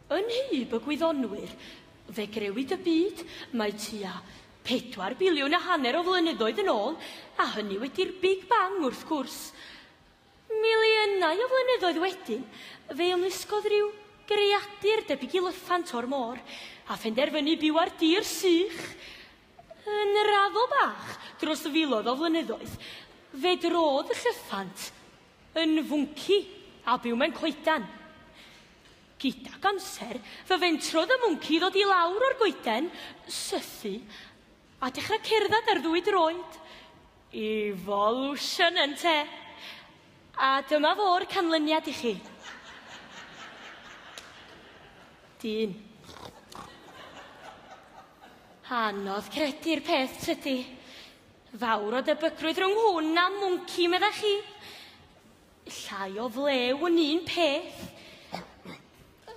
Yn hyb y gwyddonwyr, fe grewyd y byd, mae tua 4 biliwn a hanner o flynyddoedd yn ôl, a hynny wedi'r Big Bang wrth gwrs. Miliynau o flynyddoedd wedyn, fe ymlusgodd rhyw greadur debyg i lyffant o'r môr, a phenderfynu byw ar dir sych. Yn raddol bach, dros filoedd o flynyddoedd, fe drodd y llyffant yn fwnci a byw mewn coeden. Gydag amser, fe fentrodd y mwnci i ddod i lawr o'r goeden, sythu, a dechrau cerdded ar ddwy droed. Evolution ynte? A dyma fo'r canlyniad i chi. Dyn. Anodd credu'r peth tydi? Fawr o debygrwydd rhwng hwn a mwnci, meddach chi? Llai o flew yn un peth.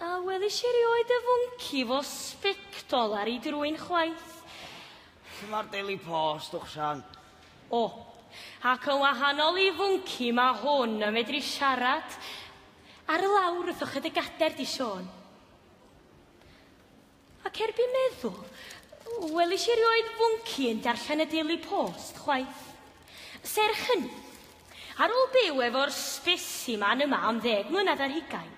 A welis i erioed y fwnci fo sbectol ar ei drwyn chwaith. Lle mae'r Daily Post, Uchsan? O, ac yn wahanol i fwnci mae hwn yn medru siarad. Ar y lawr wrth ochr dy gader di, Siôn. Ac erbyn meddwl, welis i erioed fwnci yn darllen y Daily Post, chwaith. Serch hynny, ar ôl byw efo'r sbesiman yma am ddeg mlynedd ar hugain,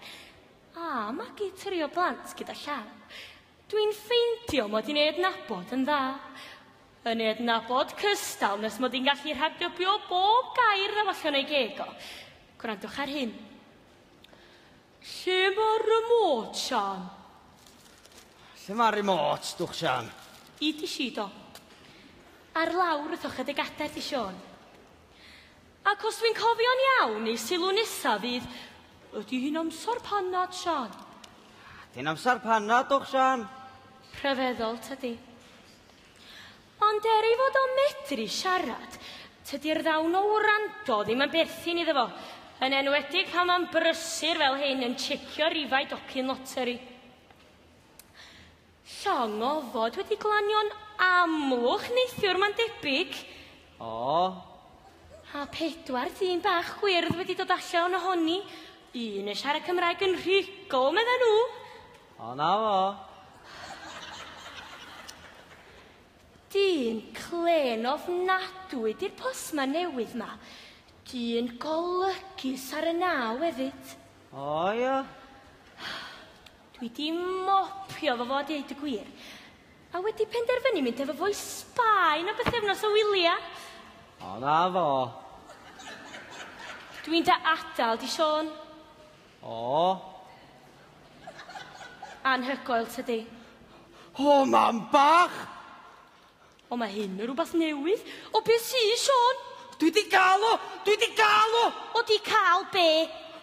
a magu tri o blant gyda llaw, dwi'n ffeindio mod i'n ei adnabod yn dda. Yn ei adnabod cystal nes mod i'n gallu rhagdybio bob gair ddaw allan o'i geg o. Gwrandwch ar hyn. Lle mae'r remote, Siân? Lle mae'r remote, dwch Siân? I ti, Sido. Ar lawr wrth ochr dy gadair di, Siôn. Ac os dwi'n cofio'n iawn, ei sylw nesa fydd, Ydy hi'n amser panad, Siân? Ydy'n amser panad, dwch Siân? Rhyfeddol, tydi? Ond er ei fod o'n medru siarad, tydi'r ddawn o wrando ddim yn berthyn iddo fo, yn enwedig pan fo'n brysur fel hyn yn checio rifau docyn loteri. Llong o ofod wedi glanio'n amlwg neithiwr mae'n debyg. O, A pedwar dyn bach gwyrdd wedi dod allan ohoni, un yn siarad Cymraeg yn rhugl, medden nhw! O, na fo. Dyn clên ofnadwy di'r postman newydd ma. Dyn golygus ar y naw efyd. O, ia. Dwi di mopio fo fo deud y gwir. A wedi penderfynu mynd efo fo i Sbaen am bythefnos o wylia. O, na fo. Dwi'n da adal, di Siôn. O! Anhygoel, tydi? O, mam bach! O, mae hyn yn rhywbeth newydd. O, be sy, Siôn? Dwi di gael o! Dwi di gael o! O, di cael be?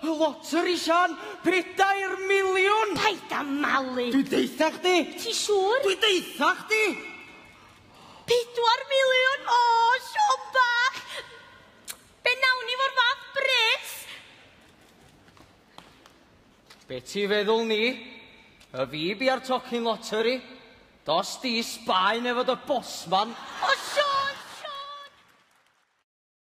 Y loteri, Sian! Pedair miliwn! Paid a malu! Dwi deitha chdi! Ti siŵr? Dwi deitha chdi! Pedwar miliwn! O, Siôn bach! Be nawn ni fo'r fath bres? Be ti feddwl ni? Y fi bi ar tocyn lottery? Dos di Sbaen efo dy bosman? O Siôn, Siôn!